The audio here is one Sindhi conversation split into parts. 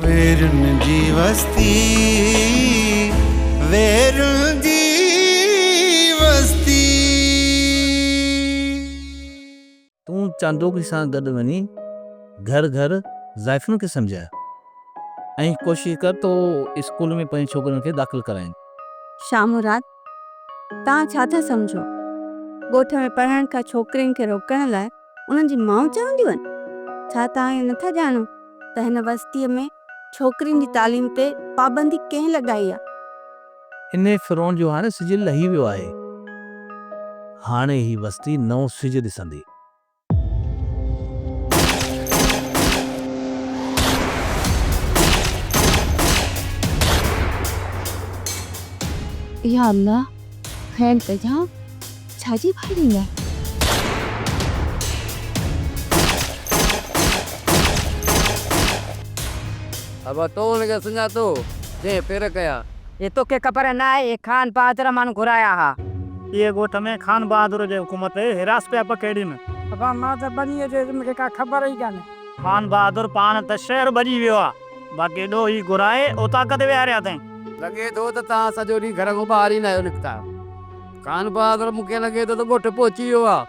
ويرن جي وستي ويرن جي وستي. تون چانڊوڪي سان گڏ وڃي گهر گهر زائفن کي سمجهاء ۽ ڪوشش ڪر ته هو اسڪول ۾ پنهنجين ڇوڪرين کي داخل ڪرائين. شاهمراد، توهان ڇا ٿا سمجهو؟ ڳوٺ ۾ پڙهڻ کان ڇوڪرين کي روڪڻ لاء انهن جي مائون چونديون آهن، ڇا توهان اهو نٿا ڄاڻو ته هن وستيء ۾ ڇوڪرين جي تعليم تي پابندي ڪنهن لڳائي آهي؟ انهيء فرعون جو هاڻي سج لهي ويو آهي. هاڻي هي وستي نئون سج ڏسندي. يا الله! کين ڪجان ڇا جي فائرنگ آهي. ابا تو ان کي سڃاتو جنهن پير ڪيا. اي توکي خبر نه آهي اي خان بهادر ماڻهو گهرايا ها. اي ڳوٺ ۾ خان بهادر جي حڪومت تي هراس پيا پکيڙين. ابا مان ته ٻنيء جي علم کي ڪا خبر ئي ڪانهي. خان بهادر پاڻ ته شهر ڀڄي ويو آهي. باقي ڏوهي گهرائي اوطاق تي ويهاريا اٿائين. لڳي ٿو ته توهان سڄو ڏينهن گهر کان ٻاهر ئي نه آهيو نڪتا. خان بهادر مون کي لڳي ٿو ته ڳوٺ پهچي ويو آهي.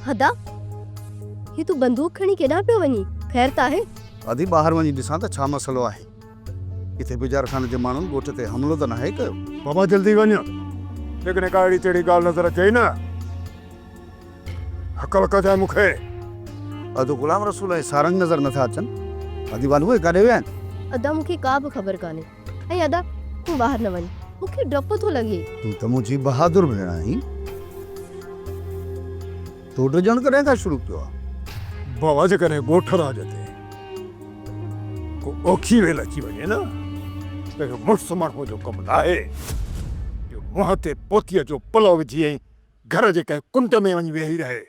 هدا، هي تون بندوق کڻي ڪيڏانهن پيو وڃين؟ خير ته آهي؟ هدي، ٻاهر وڃي ڏسان ته ڇا مسئلو آهي. ڪٿي بجار خان جي ماڻهن ڳوٺ تي حملو ته ناهي ڪيو؟ بابا جلدي وڃ، جيڪڏهن ڪا اهڙي تهڙي ڳالهه نظر اچئي نه هڪل ڪجانء مون کي. ادا غلام رسول ۽ سارنگ نظر نٿا اچن، ادي والو اهي ڪاڏي ويا آهن؟ ادا مون کي ڪا به خبر ڪانهي ۽ ادا تون ٻاهر نه وڃ، مون کي ڊپ ٿو لڳي. تون ته منهنجي بهادر ڀيڻ آهين. ٿو ڊڄڻ ڪڏهن کان شروع ٿيو آهي؟ بابا جيڪڏهن ڳوٺ راڄ تي ڪو اوکي ويل اچي وڃي نه ته اهو مڙس ماڻهوء جو ڪم ناهي جو منهن تي پوتيء جو پلئو وجهي ۽ گهر جي ڪنهن ڪنڊ ۾ وڃي ويهي رهي.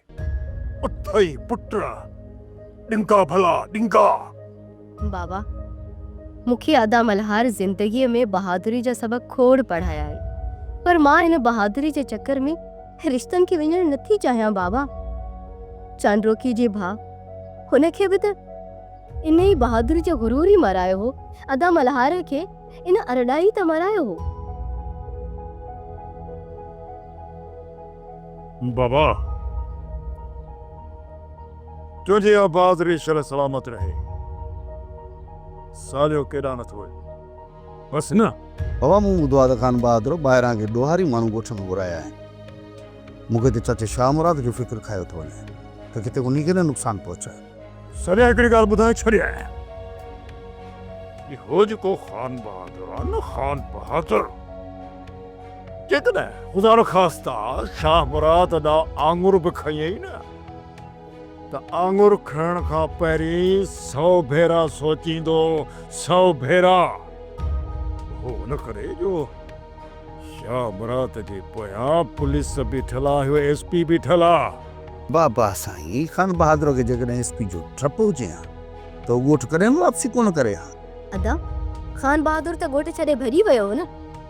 اٿئي پٽ، ڏنگا ڀلا ڏنگا! بابا مون کي ادا ملهار زندگيء ۾ بهادري جا سبق کوڙ پڙهايائين پر مان ان بهادري جي چڪر ۾ رشتن کي وڃڻ نه ٿي چاهيان بابا. چانڊوڪي جي ڀاء هن کي به ته ان ئي بهادري جو غرور ئي مارايو هو، ادا ملهار کي ان ارڏا ئي ته مارايو هو. بابا! تنهنجي آباد ري شل سلامت رهي. ساليو ڪيڏانهن نه ٿو وڃين. بس نه. بابا مون ٻڌو آهي ته خان بهادر ٻاهران ڪي ڏوهاري ماڻهو ڳوٺ ۾ گهرايا آهن. مون کي ته چاچي شاهه مراد جو فڪر کايو ٿو وڃي ته ڪٿي انهي کي نه نقصان پهچايو. ساليا هڪڙي ڳالهه ٻڌائي ڇڏيانء. اهو جيڪو خان بهادر آهي نه خان بهادر جيڪڏهن خدانخواسته شاهه مراد ڏانهن آڱر به کنيئي نه. ته آڱر کڻڻ کان پهرين سئو ڀيرا سوچيندو، سئو ڀيرا! اهو ان ڪري جو شاهه مراد جي پويان پوليس بيٺل آ، اهو ايس پي بيٺل آ. واهه واهه سائين، خان بهادر کي جيڪڏهن ايس پي جو ڊپ هجي ها ته هو ڳوٺ ڪڏهن به واپسي ڪونه ڪري ها. ادا! خان بهادر ته ڳوٺ ڇڏي ڀڄي ويو هو نه؟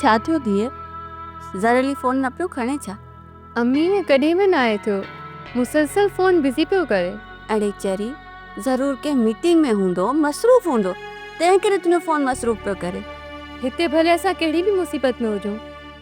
ڇا ٿيو ڌيء؟ ظھر علي فون نه پيو کڻي ڇا؟ امي ائين ڪڏھن به ناھي ٿيو. مسلسل فون بزي پيو ڪري. اڙي چري، ضرور ڪنھن ميٽنگ ۾ ھوندو، مصروف ھوندو، تنھن ڪري تنھنجو فون مصروف پيو ڪري. ھتي ڀلي اسان ڪھڙي به مصيبت ۾ ھجون،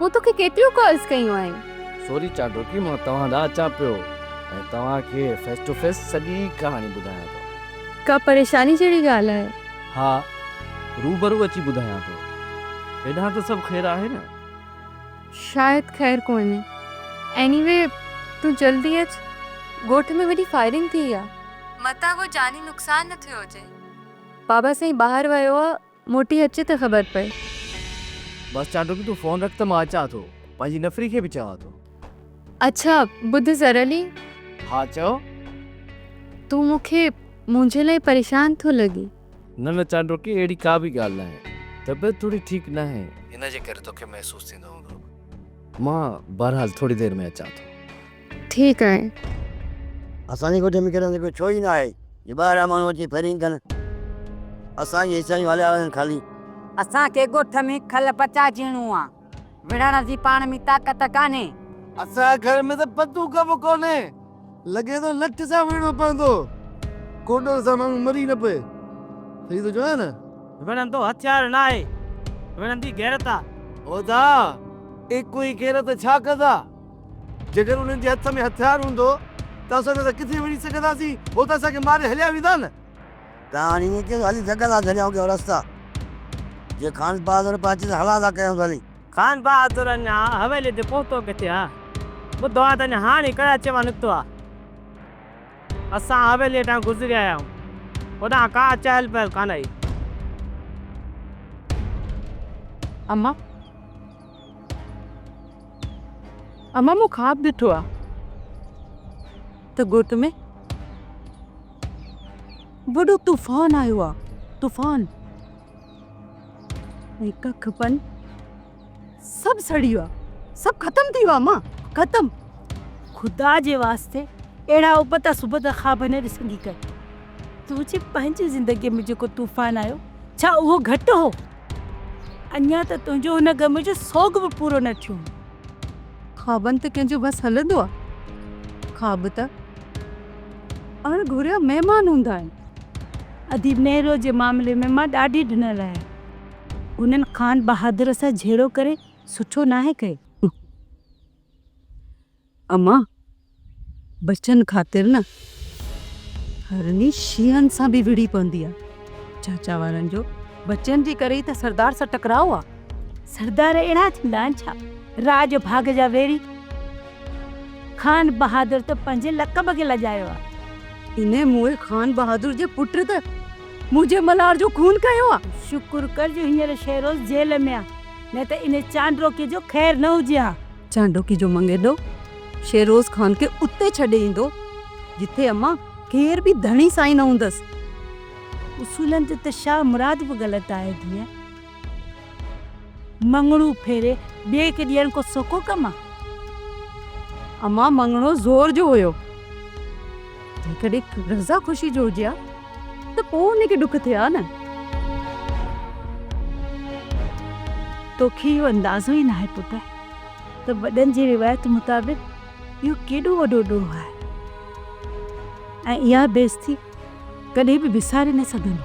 مون توکي ڪيتريون ڪالز ڪيون آهن. سوري چانڊوڪي مان توهان ڏانهن اچان پيو ۽ توهان کي فيس ٽو فيس سڄي ڪهاڻي ٻڌايان ٿو. ڪا پريشاني جهڙي ڳالهه آهي؟ ها روبرو اچي ٻڌايان ٿو. هيڏانهن ته سڀ خير آهي نه؟ شايد خير ڪونهي. ايني وي تون جلدي اچ. ڳوٺ ۾ وڏي فائرنگ ٿي آهي. متان ڪو جاني نقصان نه ٿيو هجي. بابا سائين ٻاهر ويو آهي موٽي اچ ته خبر پئي. بس چانڊوڪي تون فون رک ته مان اچان ٿو پنهنجي نفري کي به چوان ٿو. اڇا ٻڌ زرلي. ها چئو. تون مون کي منهنجي لاء پريشان ٿو لڳين. نه نه چانڊوڪي اهڙي ڪا به ڳالهه ناهي طبيعت ٿوري ٺيڪ ناهي ان جي ڪري توکي محسوس ٿيندو هوندو. مان بهرحال ٿوري دير ۾ اچان ٿو. ٿي ڪري. اسان جي ڳوٺ ۾ ڪيڏا ته ڪو ڇو ئي نه آهي جو ٻاهران ماڻهو اچي پھرين ڪن. اسان جي حصا جون هاليا وڃن خالي. اسان کي ڳوٺ ۾ کل پچاء جيئڻو آ. وڙهڻ جي پاڻ ۾ طاقت ڪانهي. اسان جي گهر ۾ ته پتو ڪا به ڪونهي. لڳي ٿو لٺ سان وڙهڻو پوندو. ڪوڏڻ سان ماڻهو مري نه پئي. صحيح ٿو چوان نه. وڙهندو هٿيار ناهي. وڙهندي غيرت آ. هودا ايڪو ئي غيرت ڇا ڪندا. جيڪڏهن انهن جي هٿ ۾ هٿيار هوندو ته اسان نه ته ڪٿي وڃي سگهنداسين، هو ته اسان کي ماري هليا ويندا نه. ته هاڻي ائين ڪيس هلي جهڳندا جهليائون ڪيئن رستا، جي خانبهادر به اچي ته هلا ٿا ڪيائونس هلي. خانبهادر اڃا حويليء تي پهتو ڪٿي ها، ٻڌو ها ته اڃا هاڻي ئي ڪراچيء مان نڪتو ها. اسان حويليء هيٺان گذري آيائون، هوڏانهن ڪا چهل پهل ڪانه هئي. امان! امان مون خواب ڏٺو آ ته ڳوٺ ۾ وڏو طوفان آيو آ طوفان ۽ ڪک پن سڀ سڙي ويو آ سڀ ختم ٿي ويو آ امان ختم خدا جي واسطي اهڙا ابتا سبتا خواب نه ڏسندي ڪر تنهنجي پنهنجي زندگي ۾ جيڪو طوفان آيو ڇا اهو گهٽ هو اڃا ته تنهنجو هن غم جو سوڳ به پورو نه ٿيو. خوابن تي ڪنهن جو وس هلندو آ؟ خواب ته اڻ گهريا مهمان هوندا آهن. اديب نهروء جي معاملي ۾ مان ڏاڍي ڊنل آهيان. هنن خان بهادر سان جهيڙو ڪري سٺو ناهي ڪيو. امان ٻچن خاطر نه هرني شينهن سان به وڙهي پوندي آ. چاچا وارن جو ٻچن جي ڪري ئي ته سردار سان ٽڪراء آ. سردار اهڙا ٿيندا آهن ڇا؟ راڄ ڀاڳ جا ويڙهي. خان بهادر ته پنهنجي لقب کي لڄايو آ. انهي موئي خان بهادر جي پٽ ته منهنجي ملهار جو خون ڪيو آ. شڪر ڪر جو هينئر شيروز جيل ۾ آ. نه ته انهي چانڊروڪي جو خير نه هجي ها. چانڊوڪي جو منگيڏو شيروز خان کي اتي ڇڏي ايندو، جتي امان ڪير به ڌڻي سائين نه هوندس. اصولن تي ته شاهه مراد به غلط آهي ڌيء. مڱڻو ڦيري ٻئي کي ڏيڻ ڪو سوکو ڪم آ؟ امان مڱڻو زور جو هيو. جيڪڏهن رضا خوشي جو هجي ها. ته پوء ان کي ڏک ٿئي ها نه. توکي اهو اندازو ئي ناهي پٽ ته وڏن جي روايت مطابق اهو ڪيڏو وڏو ڏوهه آهي ۽ اها بيعزتي ڪڏهن به وساري نه سگهندو.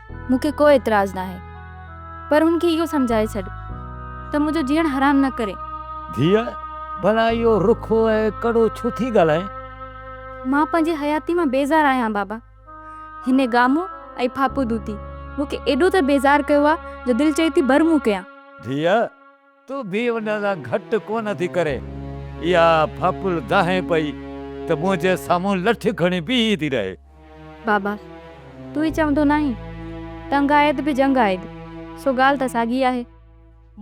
مون کي ڪو اعتراض ناهي پر هن کي اهو سمجهائي ڇڏ ته منهنجو جيئڻ حرام نه ڪري. ڌيء، ڀلا اهو رکو ۽ ڪڙو ڇو ٿي ڳالهائين؟ مان پنهنجي حياتي مان بيزار آهيان بابا. هن گامو ۽ ڦاپو دوتي مون کي ايڏو ته بيزار ڪيو آهي جو دل چئي ٿي برمون ڪيان. ڌيء، تون به ان سان گهٽ ڪونه ٿي ڪرين. اها ڦاڦل دانهين پئي ته منهنجي سامهون لٺ کڻي بيهي ٿي رهي. بابا! تون ئي چوندو ناهين، ٽنگ آيد به جنگ آيد، سو ڳالهه ته ساڳي آهي.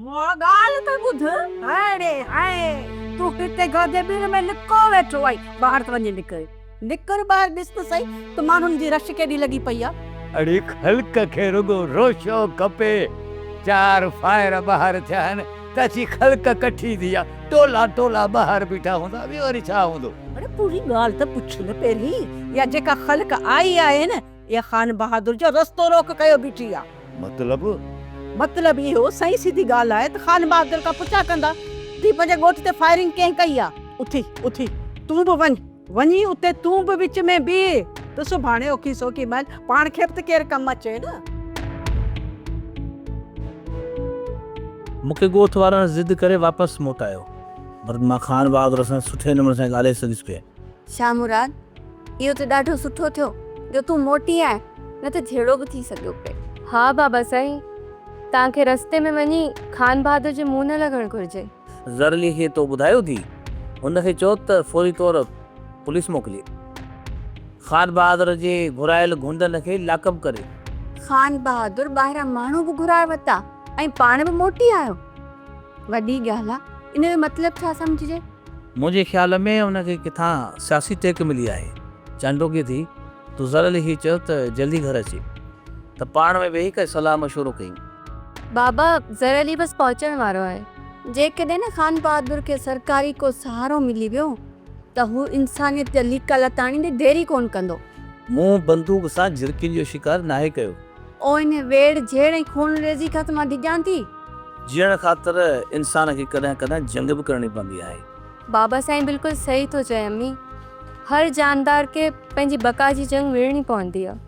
مون ڳالهه ته ٻڌ، هاڻي هائي، تون هتي گادي ٻر ۾ لڪو ويٺو آهين، ٻاهر ته وڃي نڪر. نڪر ٻاهر ڏس ته سهي ته ماڻهن جي رش ڪيڏي لڳي پئي آ. اڙي خلق کي رڳو روشو کپي. چار فائر ٻاهر ٿيا آهن ته اچي خلق ڪٺي ٿي آ. ٽولا ٽولا ٻاهر بيٺا هوندا ٻيو وري ڇا هوندو. اڙي پوري ڳالهه ته پڇ نه پهرين. اها جيڪا خلق آئي آهي نه اها خان بهادر جو رستو روڪ ڪيو بيٺي آ. مطلب؟ مطلب اهو سهي سيڌي ڳالهه آهي ته خان بهادر کان پڇا ڪندا ته هي پنهنجي ڳوٺ تي فائرنگ ڪنهن ڪئي آ. اٿي اٿي تون به وڃ. وڃي اتي تون به وچ ۾ بيهه ته سڀاڻي اوکي سوکي مئل پاڻ کي به ته ڪير ڪم اچي نه. مون کي ڳوٺ وارن ضد ڪري واپس موٽايو. پر مان خان بهادر سان سٺي نموني سان ڳالهائي سگهيس پئي. شاهه مراد، اهو ته ڏاڍو سٺو ٿيو جو تون موٽي آئين نه ته جهيڙو به ٿي سگهيو پئي. ها بابا سائين، توهان کي رستي ۾ وڃي خان بهادر جي منهن نه لڳڻ گهرجي. زرلي کي تو ٻڌايو ٿي، هن کي چو ته فوري طور پوليس موڪلي. خان بهادر جي گهرايل گونڊن کي لاڪ اپ ڪري. خان بهادر ٻاهران ماڻهو به گهرائي ورتا ۽ پاڻ به موٽي آيو. وڏي ڳالهه آ، ان جو مطلب ڇا سمجهجي؟ منهنجي خيال ۾ ان کي ڪٿان سياسي ٽيڪ ملي آهي. چانڊوڪي ٿي، تو زرلي کي چو ته جلدي گهر اچي. ته پاڻ ۾ ويهي ڪجهه صلاح مشورو ڪيون. بابا ظهر علي بس پهچڻ وارو آهي. جيڪڏهن نه خانبهادر کي سرڪاري ڪو سهارو ملي ويو ته هو انسانيت جا ليڪا لتا آڻيندي دير ئي ڪونه ڪندو. مون بندوق سان جهرڪين جو شڪار ناهي ڪيو. او انهيء ويڙهه جهيڙ ۽ خونريزي کان ته مان ڊڄان ٿي. جيئڻ خاطر انسان کي ڪڏهن ڪڏهن جنگ به ڪرڻي پوندي آهي. بابا سائين بلڪل صحيح ٿو چئي امي. هر جاندار کي پنهنجي بقا جي جنگ وڙهڻي پوندي آهي.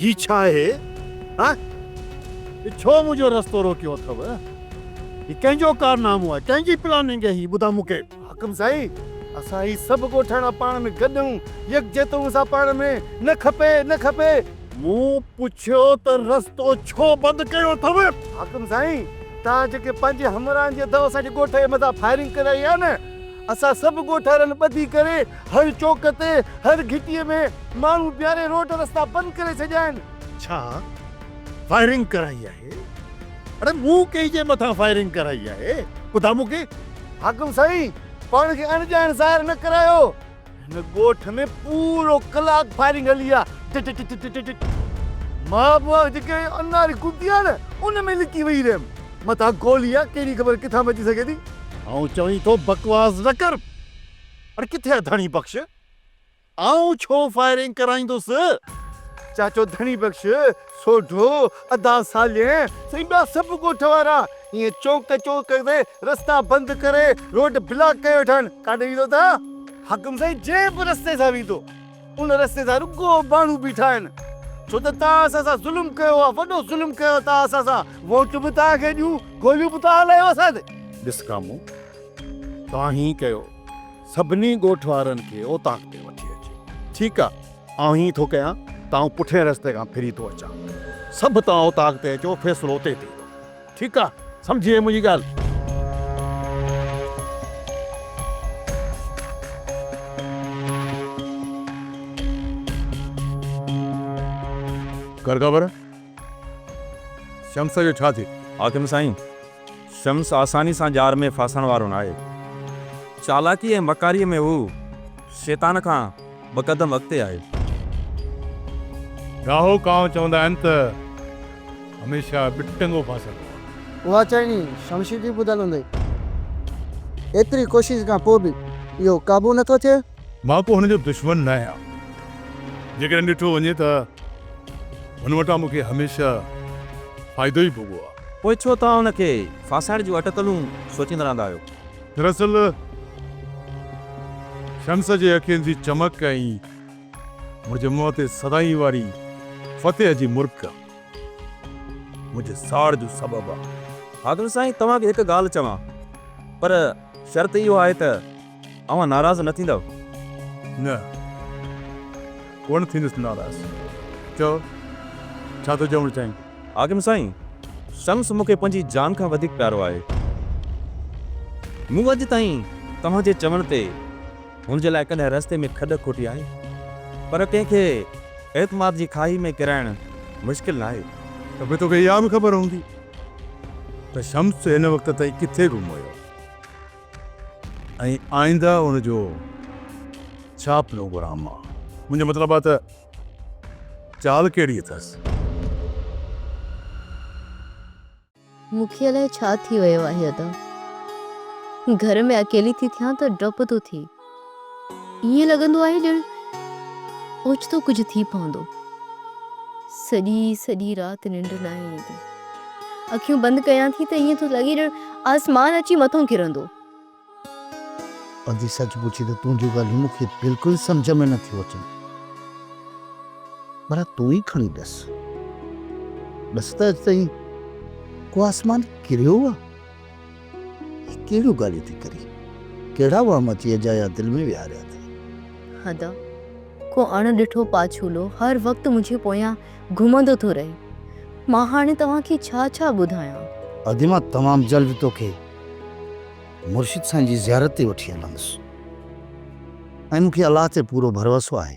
هي ڇا آهي؟ ها؟ هي ڇو منهنجو رستو روڪيو اٿئو؟ هي ڪنهن جو ڪارنامو آهي؟ ڪنهن جي پلاننگ آهي هي؟ ٻڌاء مون کي. حاڪم سائين، اسان هي سڀ ڳوٺاڻا پاڻ ۾ گڏ آهيون، يڪجهتون اسان پاڻ ۾، نه کپي، نه کپي. مون پڇيو ته رستو ڇو بند ڪيو اٿئو؟ حاڪم سائين، توهان جيڪي پنهنجي همراهن جي اٿئو اسان جي ڳوٺ جي مٿان فائرنگ ڪرائي آهي نه، اسان سڀ ڳوٺارن ٻڌي ڪري هر چوڪ تي هر گهٽيء ۾ ماڻهو بيهاري روڊ رستا بند ڪري ڇڏيا آهن. ڇا فائرنگ ڪرائي آهي؟ اڙي مون ڪنهن جي مٿان فائرنگ ڪرائي آهي؟ ٻڌاء مون کي. حاڪم سائين پاڻ کي اڻڄاڻ ظاهر نه ڪرايو. هن ڳوٺ ۾ پورو ڪلاڪ فائرنگ هلي آ ٽٽ ٽٽ ٽٽ ٽٽ ٽٽ مان به جيڪي اناري ڪتي آ نه ان ۾ لڪي ويهي رهيم متان گولي آ ڪهڙي خبر ڪٿان به اچي سگهي ٿي. آئون چوين ٿو بڪواس نه ڪر. اڙي ڪٿي آ ڌڻي بخش. آئون ڇو فائرنگ ڪرائيندس. چاچو ڌڻي بخش سوڍو، ادا سالين، سائين ٻيا سڀ ڳوٺ وارا ائين چونڪ چونڪ تي رستا بند ڪري روڊ بلاڪ ڪيو ويٺا آهن، ڪاڏي ويندو تان؟ حاڪم سائين جنهن به رستي سان ويندو ان رستي سان رڳو ماڻهو بيٺا آهن، ڇو ته تان اسان سان ظلم ڪيو آهي، وڏو ظلم ڪيو تان اسان سان، ووٽ به تان کي ڏيون، گوليون به تان هلايون اسان تي. ڏس ڪامو، تان هيئن ڪيو سڀني ڳوٺ وارن کي اوطاق تي وٺي اچ، ٺيڪ آهي. آئون هيئن ٿو ڪيان ته آئون پٺئين رستي کان ڦري ٿو اچان. سڀ توهان اوطاق تي اچو، فيصلو اتي ٿيندو. ٺيڪ آ، سمجهي وئين منهنجي ڳالهه؟ ڪر خبر، شمس جو ڇا ٿيو؟ حاڪم سائين! شمس آساني سان ڄار ۾ ڦاسڻ وارو ناهي. چالاڪي ۽ مڪاريء ۾ هو شيطان کان ٻه قدم اڳتي آهي. ڳاهو ڪانء چوندا آهن ته هميشه ٻه ٽنگو ڦاسندو آهي. اها چئني شمشير جي ٻڌل هوندي ايتري ڪوشش کان پوء به اهو قابو نه ٿو ٿئي. مان ڪو هن جو دشمن نه آهيان. جيڪڏهن ڏٺو وڃي ته هن وٽان مون کي هميشه فائدو ئي ڀوڳو آهي. پوء ڇو توهان ان کي ڦاسائڻ جون اٽڪلون سوچيندا رهندا آهيو؟ دراصل شمس جي اکين جي چمڪ ۽ منهنجي منهن تي سدائين واري فتح جي مرڪ منهنجي ساڙ جو سبب آهي. حاڪم سائين توهان کي هڪ ڳالهه چوان پر شرط اهو آهي ته. اوهان ناراض نه ٿيندؤ؟ نه، ڪونه ٿيندس ناراض. چؤ، ڇا ٿو چوڻ چاهين؟ حاڪم سائين، شمس مون کي پنهنجي جان کان وڌيڪ پيارو آهي. مون اڄ تائين توهان جي چوڻ تي هن جي لاء ڪڏهن رستي ۾ کڏ کوٽي آهي، پر ڪنهن کي اعتماد جي کاهي ۾ ڪيرائڻ مشڪل ناهي. ته پوء توکي اها به خبر هوندي ته شمس هن وقت تائين ڪٿي گم هيو. ۽ آئنده ان جو ڇا پروگرام آ؟ منهنجو مطلب آ ته چال ڪهڙي اٿس؟ مون کي الائي ڇا ٿي ويو آهي ادا گهر ۾ اڪيلي ٿي ٿيان ته ڊپ ٿو ٿئي. ائين لڳندو آهي ڄڻ اوچتو ڪجهه ٿي پوندو. سڄي سڄي رات ننڊ ناهي ايندي. اکيون بند ڪيان ٿي ته ائين ٿو لڳي ڄڻ آسمان اچي مٿو ڪرندو. پنڌي سچ پڇي ته تنهنجون ڳالهيون مون کي بلڪل سمجهه ۾ نه ٿيون اچن. ڀلا تون ئي کڻي ڏس. ڏس ته اڄ تائين ڪو آسمان ڪريو آهي؟ هي ڪهڙيون ڳالهيون ٿي ڪرين. ڪهڙا وهم اچي اجايا دل ۾ ويهاريا اٿئي. ادا! ڪو اڻ ڏٺو پاڇولو هر وقت منهنجي پويان گهمندو ٿو رهي. مان هاڻي توهان کي ڇا ڇا ٻڌايان. ادي مان تمام جلد توکي مرشد سائين جي زيارت تي وٺي هلندس ۽ مون کي الله تي پورو ڀروسو آهي.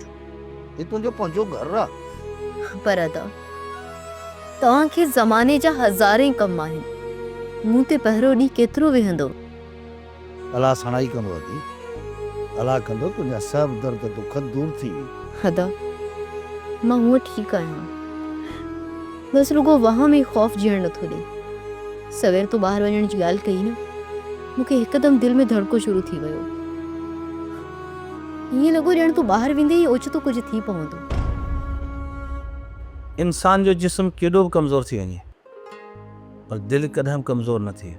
هي تنهنجو پنهنجو گهر آ. پر ادا توهان کي زماني جا هزارين ڪم آهن مون تي پهرو ڏينهن ڪيترو ويهندو. الله سڻائي ڪندو ادي الله ڪندو تنهنجا سڀ درد دک دور ٿي وي. ادا مان هونء ٺيڪ آهيان بس رڳو وهم ۽ خوف جيئڻ نٿو ڏي سوير تو ٻاهر وڃڻ جي ڳالهه ڪئي نه مون کي هڪدم دل ۾ ڌڙڪو شروع ٿي ويو. ائين لڳو ڄڻ تون ٻاهر ويندي ئي اوچتو ڪجهه ٿي پوندو. انسان جو جسم ڪيڏو به ڪمزور ٿي وڃي پر دل ڪڏهن به ڪمزور نه ٿئي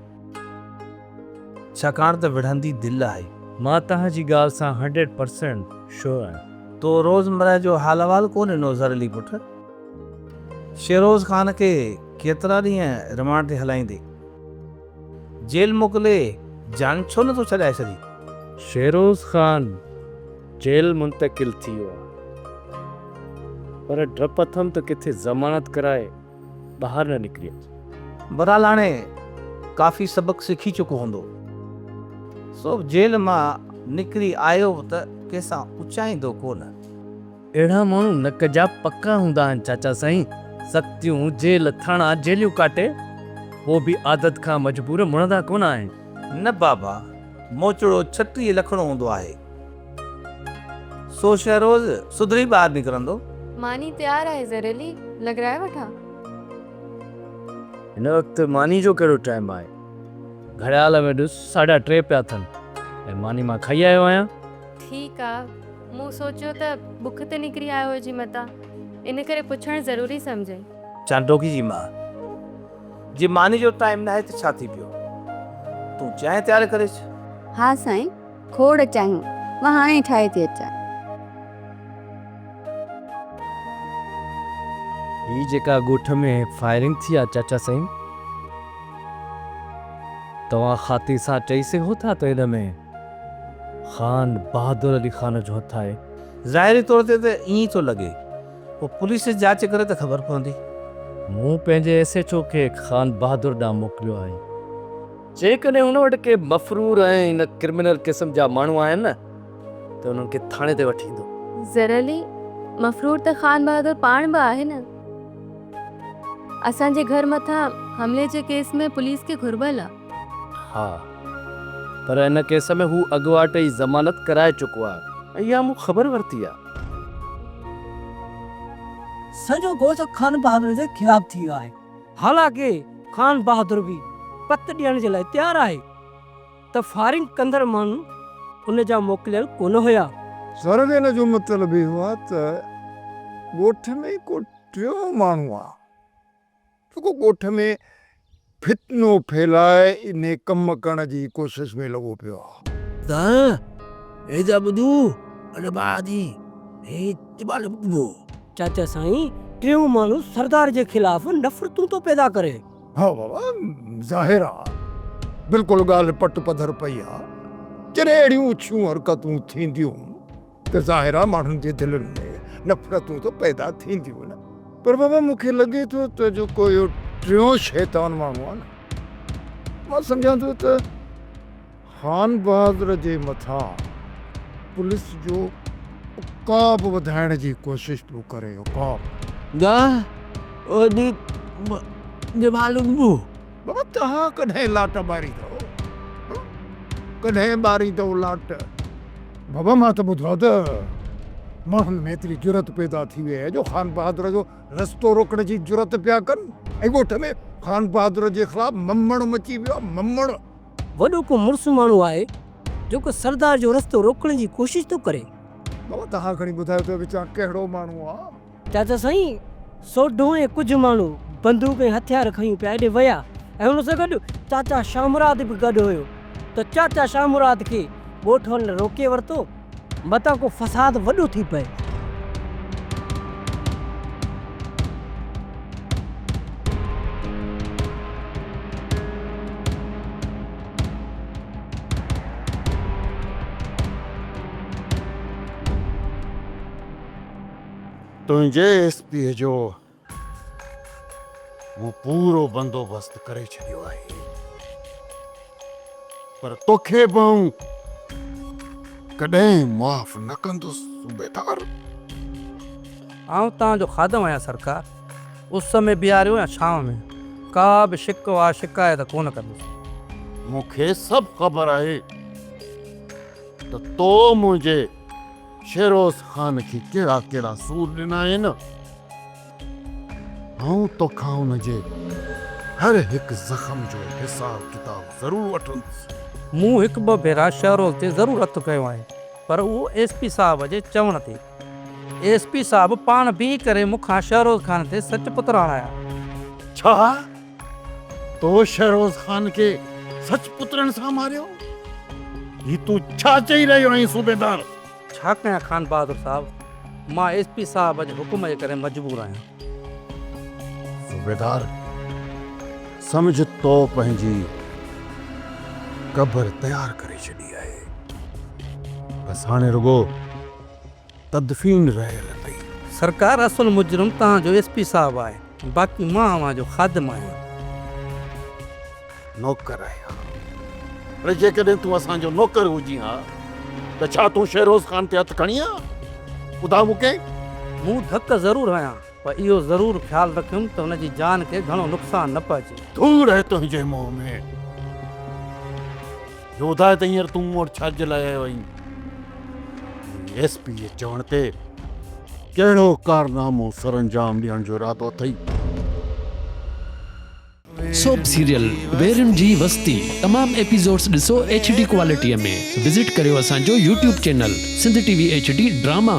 ڇاڪاڻ ته وڙهندي دل آهي. مان توهان جي ڳالهه سان هنڊريڊ پرسينٽ شور آهيان. تو روزمره جو حال احوال ڪو ڏنو زر علي پٽ. شيروز خان کي ڪيترا ڏينهن رمانڊ تي هلائيندي. جيل موڪلي جان ڇو نٿو ڇڏائي سري. فيروز خان جيل منتقل ٿي ويو پر ڊپ اٿم ته ڪٿي ضمانت ڪرائي ٻاهر نه نڪري اچي. بھرحال ھاڻي ڪافي سبق سکي چڪو ھوندو. سو جيل مان نڪري آيو به ته ڪنھن سان اچائيندو ڪونه. اهڙا ماڻهو نڪ جا پڪا هوندا آهن چاچا سائين، سختيون، جيل، ٿاڻا، جيليون ڪاٽي پوء به عادت کان مجبور مڙندا ڪونه آهن. نه بابا، موچڙو ڇٽيهه لکڻو هوندو آهي، سو شيء روز سڌري ٻاهر نڪرندو. ماني تيار آهي زريلي، لڳرائي وٺان؟ هن وقت ماني جو ڪهڙو ٽائيم آهي، گهڙيال ۾ ڏس ساڍا ٽي پيا ٿن ۽ ماني مان کائي آيو آهيان. ٺيڪ آ. مون سوچيو ته بک تي نڪري آيو هجي متان، ان ڪري پڇڻ ضروري سمجهي. چانڊوڪي جي ماء، جي ماني جو ٽائيم ناهي ته ڇا ٿي پيو، تون چانهه تيار ڪري اچ. ها سائين، کوڙ چانهيون، مان هاڻي ئي ٺاهي ٿي اچان. هي جيڪا ڳوٺ ۾ فائرنگ ٿي آ چاچا سائين، توهان خاطري سان چئي سگهو ٿا ته ان ۾. خان بهادر علي خان جو هٿ آهي. ظاهري طور تي ته ائين ئي ٿو لڳي. پوء پوليس جاچ ڪري ته خبر پوندي. مون پنهنجي ايس ايڇ او کي خان بهادر ڏانهن موڪليو آهي. جيڪڏهن هن وٽ ڪي مفرور ۽ ان ڪرمنل قسم جا ماڻهو آهن نه ته انهن کي ٿاڻي تي وٺي ايندو. ظهر علي، مفرور ته خان بهادر پاڻ به آهي نه. اسان جي گهر مٿان حملي جي ڪيس ۾ پوليس کي گهربل آ. ها پر ان ڪيس ۾ هو اڳواٽ ئي ضمانت ڪرائي چڪو آهي. اها مون خبر ورتي آهي. سڄو ڳوٺ خان بهادر جي خلاف ٿي ويو آهي. حالانڪ خان بهادر به پت ڏيڻ جي لاء تيار آهي ته فائرنگ ڪندڙ ماڻهو ان جا موڪليل ڪونه هيا. سرويئن جو مطلب اهو آهي ته ڳوٺ ۾ ڪو ٽيون ماڻهو آهي. جيڪو ڳوٺ ۾ فتنو ڦهلائي انهي ڪم ڪرڻ جي ڪوشش ۾ لڳو پيو آ. دانهن، هي ته ٻڌو اڏ ٻاڙا ٿي، هي ته ٻاڙ ٻڌبو. چاچا سائين ٽيون ماڻهو سردار جي خلاف نفرتون ٿو پيدا ڪري. ها بابا ظاهر آ بلڪل ڳالهه پٽ پڌر پئي آ جڏهن اهڙيون اڇيون حرڪتون ٿينديون. ته ظاهر آ ماڻهن جي دلن ۾ نفرتون ته پيدا ٿينديون نه پر بابا مون کي لڳي ٿو ته جيڪو اهو ٽيون شيطان ماڻهو آ نه مان سمجهان ٿو ته خان بهادر جي مٿان پوليس جو عقاب وڌائڻ جي ڪوشش پيو ڪري عقاب. ڳاهه اهو ڏينهن مون کي معلوم هو. بابا توهان ڪڏهن لاٽ ٻاريندؤ؟ ڪڏهن ٻاريندؤ لاٽ؟ بابا مان ته ٻڌو آهي ته ماڻهن ۾ ايتري جرئت پيدا ٿي وئي آهي جو خان بهادر جو رستو روڪڻ جي جرئت پيا ڪن ۽ ڳوٺ ۾ خان بهادر جي خلاف ممڻ مچي ويو آهي ممڻ. وڏو ڪو مڙس ماڻهو آهي جيڪو سردار جو رستو روڪڻ جي ڪوشش ٿو ڪري. بابا توهان کڻي ٻڌايو ته وچان ڪهڙو ماڻهو آهي؟ چاچا سائين سوڍو ۽ ڪجهه ماڻهو بندوق ۽ هٿيار کنيون پيا ايڏي ويا ۽ ان سان گڏ چاچا شاهه مراد به گڏ هيو ته چاچا شاهه مراد کي ڳوٺ وارن روڪي ورتو متان ڪو فساد وڏو ٿي پئي. تنهنجي ايس پيء جو مون پورو بندوبست ڪري ڇڏيو آهي، پر توکي به آئون ڪڏهن معاف نه ڪندس صوبيدار. آئون توهان جو خادم آهيان سرڪار، اس ۾ بيهاريو يا ڇانو ۾، ڪا به شڪوه شڪايت ڪونه ڪندس. مون کي سڀ خبر آهي ته تو منهنجي. فيروز خان کي ڪهڙا ڪهڙا سور ڏنائين؟ آئون توکان ان جي هر هڪ زخم جو حساب ڪتاب ضرور وٺندس. مون هڪ ٻه ڀيرا شهروز تي ضرور هٿ کنيو آهي، پر اهو ايس پي صاحب جي چوڻ تي. ايس پي صاحب پاڻ بيهي ڪري مون کان شهروز خان تي سچ پتراڻا آيا. ڇا؟ تو شهروز خان کي سچ پترن سان ماريو؟ هي تون ڇا چئي رهيو آهين صوبيدار؟ ڇا ڪيان خان بهادر صاحب، مان ايس پي صاحب جي حڪم جي ڪري مجبور آهيان. صوبيدار سمجهه تو پنهنجي قبر تيار ڪري ڇڏي آهي، بس هاڻي رڳو. تدفين رهيل اٿئي. سرڪار اصل مجرم توهان جو ايس پي صاحب آهي باقي مان اوهان جو خادم آهيان. نوڪر آهيان اڙي جيڪڏهن تون اسان جو نوڪر هجين ها ته ڇا تون شيروز خان تي هٿ کڻين ها ٻڌاء مون کي. مون ڌڪ ضرور هنيا پر اهو ضرور خيال رکيم ته هن جي جان کي گهڻو نقصان نه پهچي. دور رهه تنهنجي موهه ۾. يوڌا ته هينئر تون مون وٽ ڇاجي لاء آيو آهين؟ ايس پي جي چوڻ تي ڪهڙو ڪارنامو سرانجام ڏيڻ جو ارادو اٿئي؟ سوپ سيريل ويرين جي وستي تمام ايپيسوڊس ڏسو ايڇ ڊي ڪوالٽي ۾ وزٽ ڪريو اسان جو YouTube channel Sindh T V H D drama.